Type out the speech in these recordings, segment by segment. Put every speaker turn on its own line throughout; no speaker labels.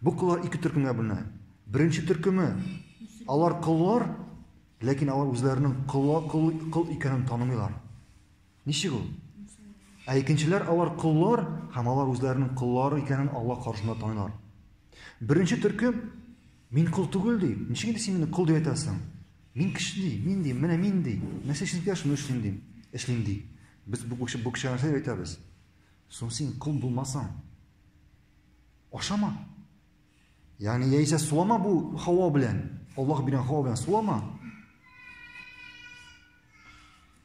Бу коллар ике төркемгә бүленә. Беренче төркеме, алар коллар, ләкин алар үзләренең колла кол, кол икәнен танымыйлар. Ничек ул? Ә икенчеләр алар коллар һәм алар үзләренең коллары икәнен Алла каршында танылар. Беренче төркем мин кол түгел ди. Ничек инде син мине кол дип әйтәсең? Мин кеше ди, мин ди, менә мин ди. Нәрсә эшлим килә, шуны эшлим ди. Эшлим ди. Без бу кеше бу кеше нәрсә әйтәбез? Соң син кол булмасаң. Ашама. Ягъни яисә сулама бу һава белән. Аллаһ биргән һава белән сулама.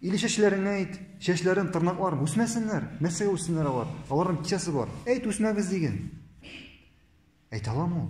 Или чәчләреңә әйт, чәчләрен, тырнакларын үсмәсеннәр. Нәрсәгә үссеннәр алар? Аларның кичәсе бар. Әйт, үсмәгез диген. Әйтә аламы ул?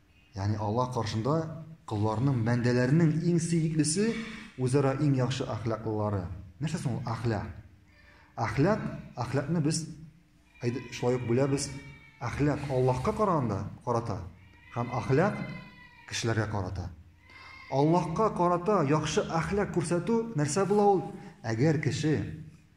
Ягъни Аллаһ каршында колларның, бәндәләрнең иң сөеклесе үзара иң яхшы әхлаклылары. Нәрсә соң ул әхлак? Әхлак, әхлакны без шулай ук бүләбез. Әхлак Аллаһка караганда карата һәм әхлак кешеләргә карата. Аллаһка карата яхшы әхлак күрсәтү нәрсә була ул? Әгәр кеше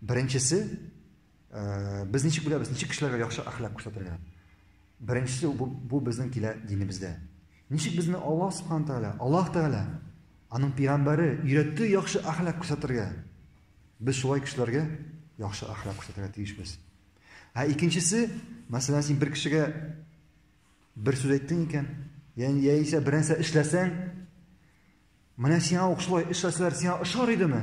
Беренчесе, без ничек беләбез, ничек кешеләргә яхшы әхлак күрсәтергә? Беренчесе бу, бу безнең килә динебездә. Ничек безне Аллаһ Субхану Тәгалә, Аллаһ Тәгалә, аның пигамбәре өйрәтте яхшы әхлак күрсәтергә. Без шулай кешеләргә яхшы әхлак күрсәтергә тиешбез. Ә икенчесе, мәсәлән, син бер кешегә бер сүз әйттең икән, яни яисә бер нәрсә эшләсәң, менә сиңа ук шулай эшләсәләр, сиңа ошар идеме?